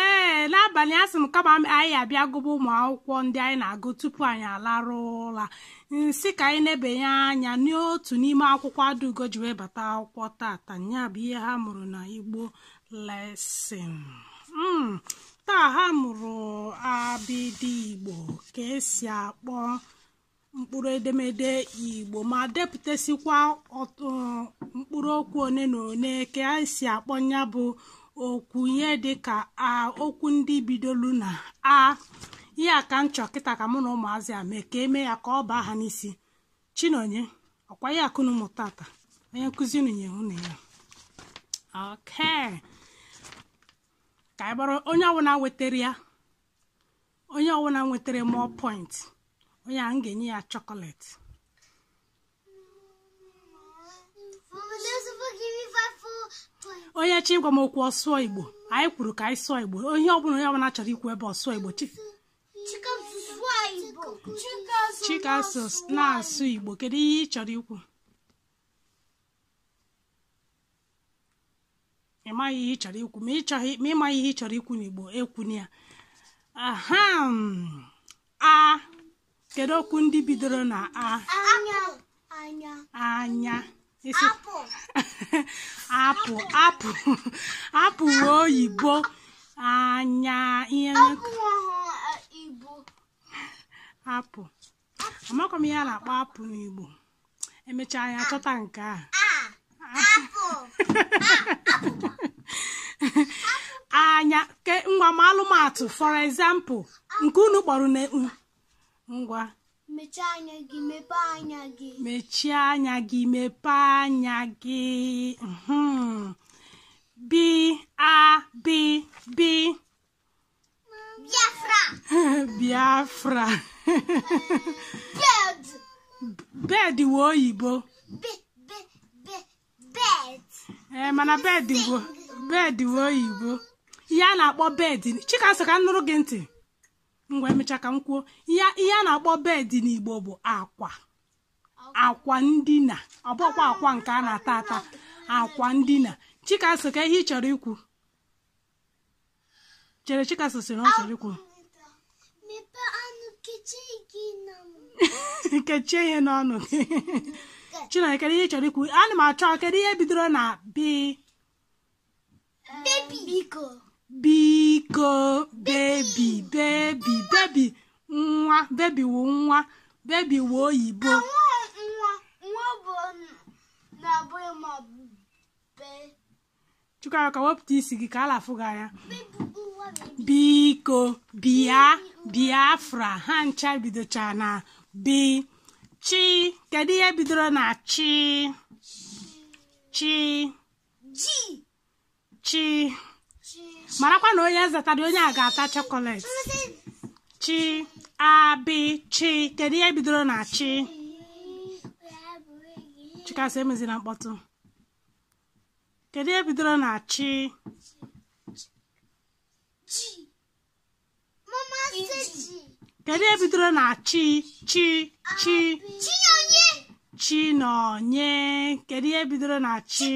ee n'abalị asị m kama anyị abịa gụba ụmụ akwụkwọ ndị anyị na-agụ tupu anyị alarụ ụla m sị ka anyị nebanye anya n'otu n'ime akwụkwọ adaugo ji wee bata akwụkwọ tata ya bụ ihe ha mụrụ na igbo lesson hmm, taa ha mụrụ abịdị igbo ka esi akpọ mkpụrụ edemede igbo ma depụtasịkwa ọtụ mkpụrụ okwu one na one ka esi akpọ ya bụ okwu ihe dịka a okwu ndị bidolu na a ihe a ka m chọ kịta ka mụ na ụmụazị a mee ka eme ya ka ọ baa ha n'isi chinonye ọkwa ya ka unu mụ tata onye nkụzi unu nye unu ya okay ka ọ bụrụ onye ọbụla wetara ya onye ọbụla nwetara more point onye a m ga-enye ya chocolate onye chọ ịgwa m okwu ọ sụọ igbo anyị kwuru ka anyị sụọ igbo onye ọbụla onye ọbụla chọrọ ikwu ebe ọ sụọ igbo chi chikaso na-asụ igbo kedu ihe ị chọrọ ikwu ị maghị ihe ị chọrọ ikwu ma ị maghị ihe ị chọrọ ikwu n'igbo ekwuna ya aha a kedu okwu ndị bidoro na a anya apple apple apple wụ oyibo anya ihe apple amakwa m ihe a na-akpọ apụ n'igbo emechaa anyị achọta nke a anya ke ngwa maalụ m atụ for example nke unu kpọrọ na ngwa mechie anya gị mepee anya gị mechie anya gị mepee anya gị mhm. bi a bi bi Biafra. biafra Bed. bed wụ oyibo Be, be, be, bed. ee mana bed bụ bed wụ oyibo ihe a na-akpọ bed chikaso ka m nụrụ gị ntị ngwa emecha ka m kwuo ihe ihe a na-akpọ bed n'igbo bụ akwa akwa ndina ọ bụkwa akwa nke a na-ata ata akwa ndina chikaso kee ihe ị chọrọ ikwu chere chikaso sịrị ọ chọrọ ikwu kechie ihe n'ọnụ gị chineke kedu ihe ị chọrọ ikwu ana m achọ kedu ihe bidoro na bi biko biko baby baby baby nwa baby wụ nwa baby wụ oyibo chika ka wepụta isi gị ka a na-afụ gị anya biko bịa biafra ha ncha bidocha na bi chi kedu ihe bidoro na chi chi chi marakwa na onye zatara onye a ga-ata chọkọlet chi a bi chi kedu ihe bidoro na chi chikasị emezina mkpọtụ kedu ihe bidoro na chi kedu ihe bidoro na chi chi chi chinọnye kedu ihe bidoro na chi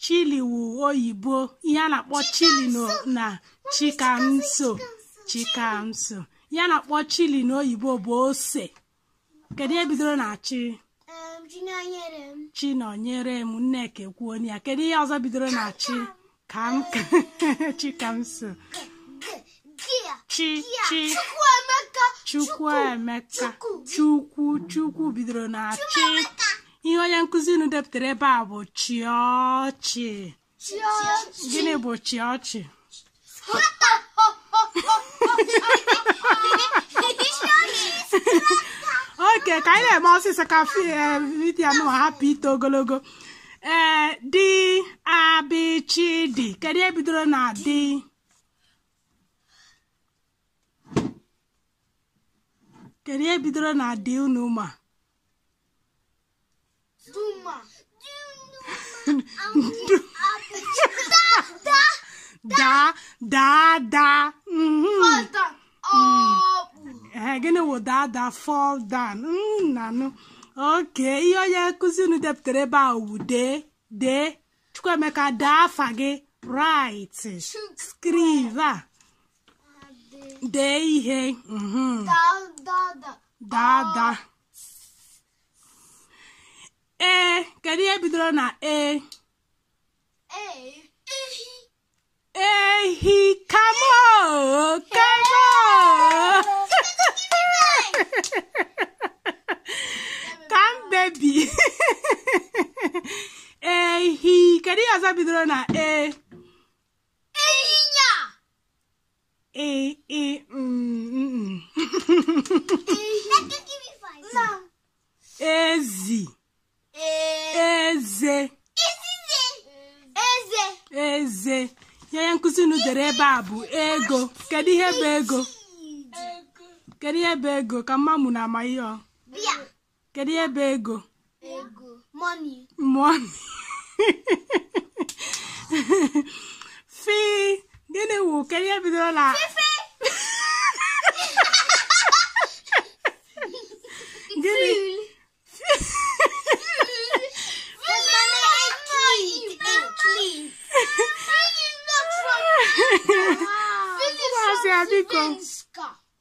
chili wu oyibo ihe a na-akpọ chili na chikamso chikamso ihe a na-akpọ chili n'oyibo bụ ose kedu ihe bidoro na chi chinọnyerem nneka ekwuo ya kedu ihe ọzọ bidoro na chi ka m chikamso chi chi chukwuemeka chukwu chukwu bidoro na chi ihe onye nkụzi unu depụtara ebe a bụ chị ọchị gịnị bụ chị ọchị oke ka anyị na-eme ọsịsọ ka vidiyo nụ hapụ ito ogologo ee di a bi chi di kedu ihe bidoro na di kedu ihe bidoro na di unu ma Duma. daa daa daa mhm. Fada. Ọbụ. Ee, gịnị wụ daa daa fall down Mm, nanụ oke ihe onye nkụzi unu depụtara ebe a wụ dee dee chukwuemeka dee afa gị write skriva dee ihe mhm. dada ee kedu ihe bidoro na e ehi kamo kamo ka m baby ehi kedu ihe ọzọ bidoro na e ịnyịnya ị ị mm, mm. ezi eze eze eze ihe onye nkụzi unu dere ebe a bụ ego kedu ihe bụ ego kedu ihe bụ ego ka m ma ma unu ama ihe ọ bụ kedu ihe bụ ego ego money money fi gịnị wụ kedu ihe bidoro na gịnị Maazị Abiko.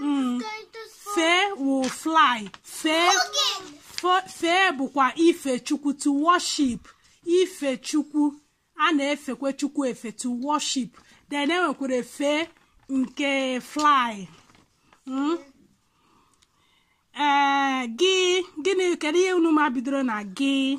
Mm. fee wụ fly fee fee bụkwa ife chukwu to worship ife chukwu a na-efekwe chukwu efe to worship then enwekwara efe nke fly mm. ee eh, gị gịnị kedu ihe unu ma bidoro na gị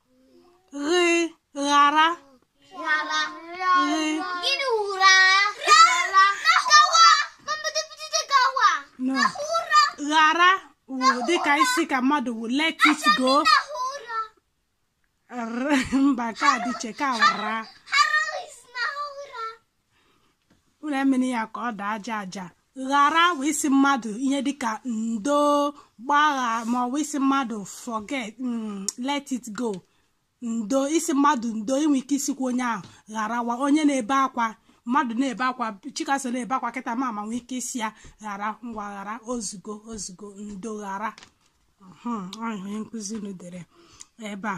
ghị ghara Gịnị wụ ghara? Gawa. Mmadụ bido gawa. no Ụra. ghara wụ dịka ịsị ka mmadụ wụ let it go Ụra. R- mba ka dịche ka ra unu emena ya ka ọ daa aja aja ghara wụ ịsị mmadụ ihe dịka ndo gbaghara ma ọ bụ ịsị mmadụ forget mm, let it go ndo ịsị mmadụ ndo i nwe ike ịsịkwa onye ahụ gharawa onye na-ebe akwa mmadụ na-ebe akwa Chikaso na-ebe akwa kịta m nwee ike ịsị ya ghara ngwa ghara ozugo ozugo ndo ghara onye nkụzi unu dere ebe a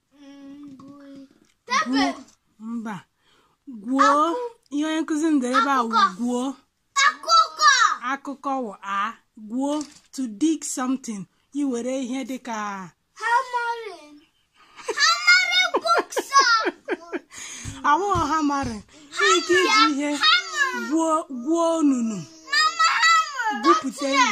mba gwuo ihe onye nkụzi m dere ebe a gwuo akụkọ wụ a gwuo to dig something iwere ihe dịka awụghọ ha mara ike iji ihe gwuo onunu gwupụta ihe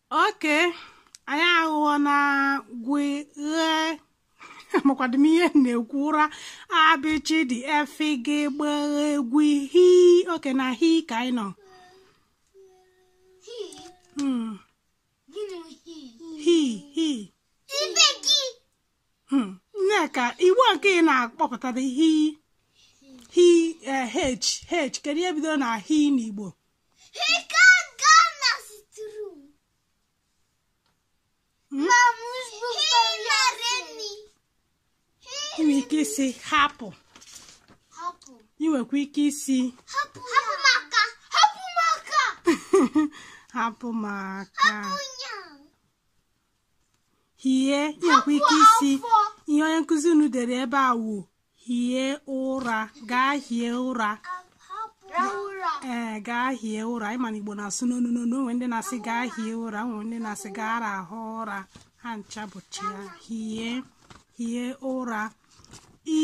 okay anyị aghụghọ na gwe amakwadị m ihe na-ekwu ụra a bị chị dị e fị gị gbị ghị gwị hi okay na hi ka anyị nọ Hmm. hi hi hmm, Nneka ị wụ nke ị na-akpọpụtara hi hi eh, h h kedu ihe bidoro na hi n'Igbo i nwere ike ịsị hapụ ị nwekwa ike ịsị hapụ maka hie i nwekwa ike ịsị ihe onye nkụzi unu dere ebe a wụ hie ụra gaa hie ụra ee gaa hie ụra ị ma na igbo na-asụ n'onu n'onu o nwe ndị na-asị gaa hie ụra o nwe ndị na-asị gaa rahụ ụra ha ncha bụcha ya hie hie ụra i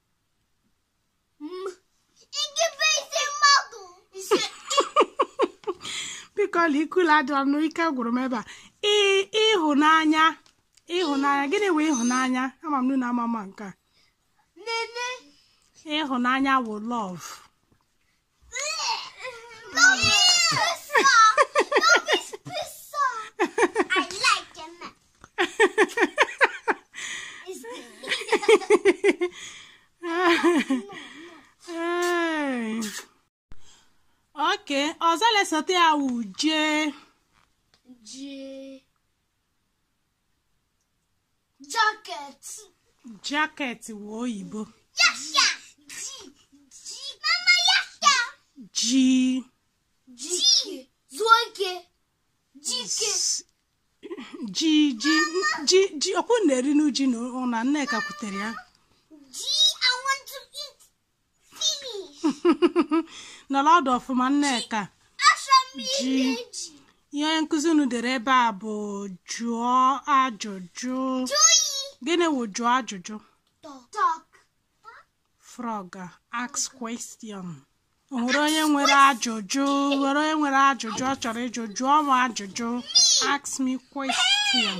biko ọla ikula adịla m ike gwụrụ m ebe a ee ịhụnanya ịhụnanya gịnị wụ ịhụnanya ama m na unu ama ma nke a ịhụnanya wụ love oke ọzọ lesote ya wụ jee Jacket. Jacket wụ oyibo. Yasha. Ji. Ji. Mama yasha. Ji. Ji. Zuo ike. Jike. Ji ji ji ji ọkwa unu na-eri n'uji na ụna Nneka kwutere ya. nọrọ ọdụ ọfụma nneka ihe onye nkụzi unu dere ebe a bụ jụọ ajụjụ gịnị wụ jụọ ajụjụ frog ask question o nwere onye nwere ajụjụ nwere onye nwere ajụjụ ọ chọrọ ịjụ jụọ m ajụjụ ask me question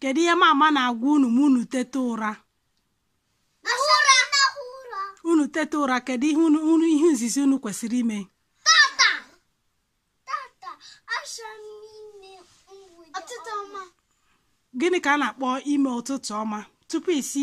kedu ihe mama na-agwa unu ma unu teta ụra unu teta ụra kedu ihe unu ihe izizi unu kwesịrị ime gịnị ka a na-akpọ ime ụtụtụ ọma tupu isi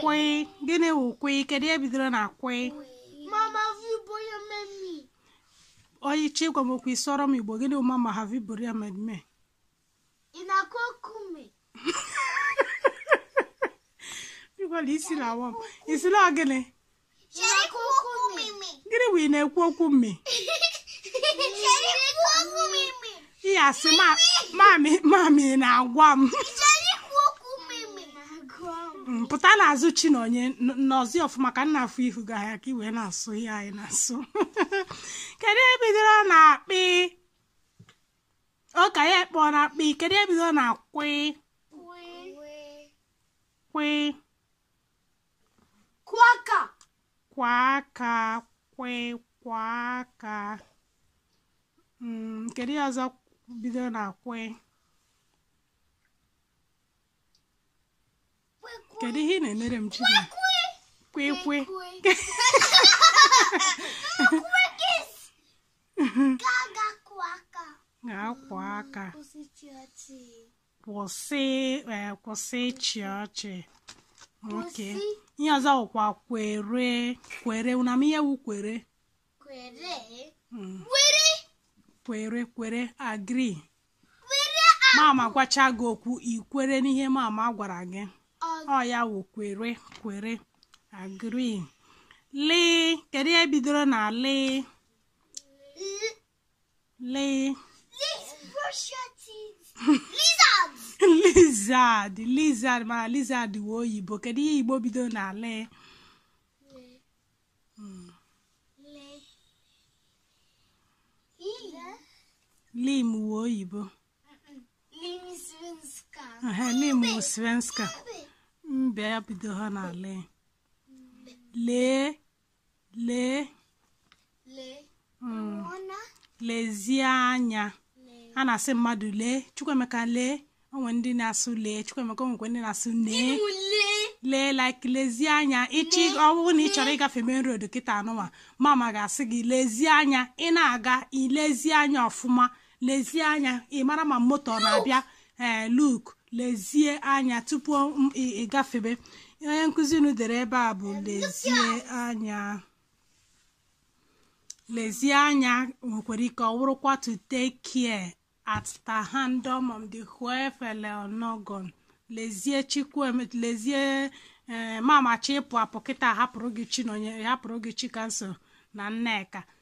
kwị gịnị wụ kwị kedu ihe bidoro na kwị Mama, have you bought your menu? onye chọ ịgwa m okwu ị sụọrọ m igbo gịnị wụ mama have you buried my me In a kokume. ịgwala ị sị na ọ wụ m ị sị na gịnị gịnị wụ ị na-ekwu okwu mmi ihe asị mamị na-agwa m pụta n'azụ chi na onye nọzi ọfụma ka m na-ahụ ihu ga ya ka i wee na-asụ ihe anyị na-asụ kedu ihe bidoro na kpị ụka ya ekpọ na kpị kedu ihe bidoro na kwị kwị Kwaka. Kwaka, kwe, kwaka. Mm, kedu ihe ọzọ bido na kwe? Kedu ihe ị na-emere m Chima? Kwe kwe. Gaga kwaka. Ga-akwa aka. Kwụsị ịchị ọchị. kwụsị eh, kwụsị ịchị ọchị okay ihe ọzọ wụkwa kwere kwere na m ihe wu kwere kwere hmm. kwere kwere agree mama gwacha gị okwu i kwere n'ihe mama gwara gị ọ ya wụ kwere kwere agree lị kedu ihe bidoro na lị Lee. Please brush your teeth. Lizard. lizard lizard mana lizard wee oyibo kedu ihe igbo bido na lee lim wee oyibo lim wee svenska mbe ya bido ha na lee lee lee hmm. lezie anya a na-asị mmadụ lee Chukwuemeka lee o nwee ndị na-asụ lee Chukwuemeka o nwekwee ndị na-asụ nee lee like lezie anya ịchị ọ wụrụ na ị chọrọ ịgafe main road kịta anụnwa mama ga-asị gị lezie anya ị na-aga i lezie anya ọfụma lezie anya ị mara ma moto ọ na-abịa ee eh, look lezie anya tupu ị gafebe onye nkụzi unu dere ebe a bụ lezie anya lezie anya nwekwara ike ọ wụrụkwa to take care at the hand of the whoever onogon lezie chukwueme lezie eh, mama chọọ ịpụ apụ kịta hapụrụ gị chi na onye hapụrụ gị chikamso na nneka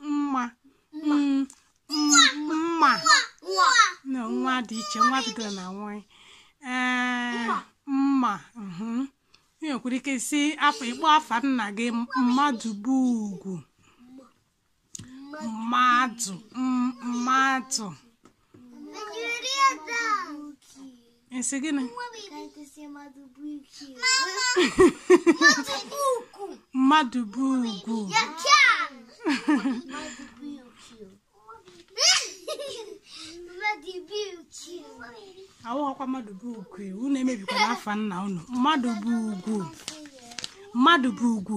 mma mma mma na nwa dị iche nwa bidoro na nwanyị ee mma mhm. ị nwekwara ike sị afọ ịkpọ afa nna gị mmadụ bụ ugwu mmadụ m- mmadụ ị sị gịnị mmadụ bụ ugwu awụghọkwa mmadụ bụ ugwu unu emebikwana afa nna unu mmadụ bụ ugwu mmadụ bụ ugwu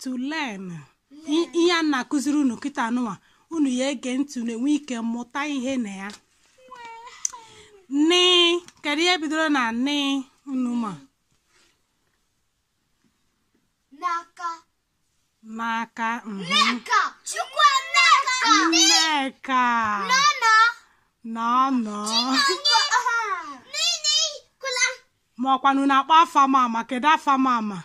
to learn ihe a na-akụziri unu kịta anụwa unu ya ege ntị unu enwee ike mụta ihe na ya nị kedu ihe bidoro na nị unu ma n'aka n'aka mhm. nneka chukwu nneka nneka nọ nọ nọ nọ nọ nini kula ma ọkwa unu na-akpọ afa mama kedu afa mama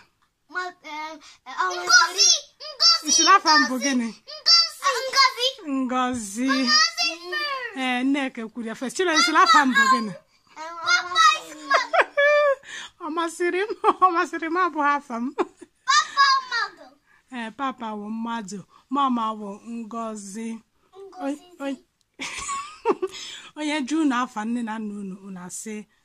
ị sịrị afa m bụ gịnị ngozi ee nneka kwuru ya first chire ị sịrị afa m bụ gịnị ọ masịrị m ọ masịrị m abụghị afa m ee papa wụ madụ mama wụ ngozi onye jụọ unu afa nne na nna unu unu asị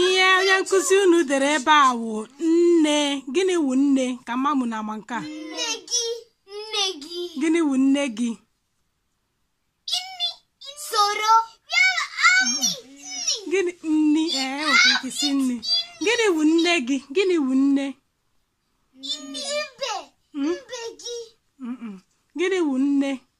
ihe onye nkụzi unu dere ebe a wụ nne gịnị wụ nne ka m ma ma unu ama nke a nne gị nne gị gịnị wụ nne gị soro gịnị nni ee nwere ike si nne gịnị wụ nne gị gịnị wụ nne ibe mbe gị gịnị wụ nne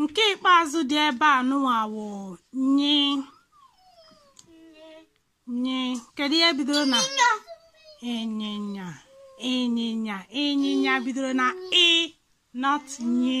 nke ikpeazụ dị ebe a nụwa wụ nye nye kedu ihe bidoro na ịnyịnya ịnyịnya ịnyịnya bidoro na ị not nye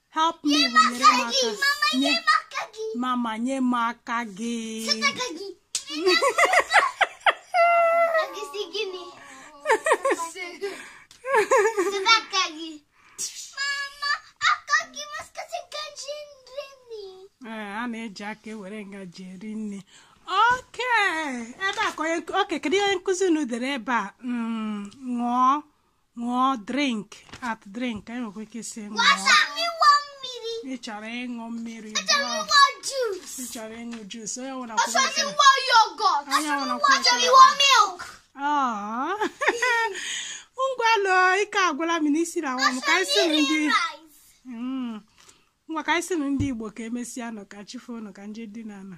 help me bụ nyere m aka nye mama nye m aka gị ee a na-eji aka ewere ngaji eri nni okay ebe a ka onye okay kedu ihe onye nkụzi unu dere ebe a Mm, ṅụọ ṅụọ drink a drink anyị nwekwa ike si ṅụọ ị chọrọ ịṅụ mmiri ị chọrọ ịṅụ juice onye nwere akwụkwọ onye nwere akwụkwọ ngwanụ ike agwụla m n'isi na nwa m ka anyị sịrị ndị ngwa ka anyị sịrị ndị igbo ka emesịa nụ ka chi fo nụ ka nje dị na ala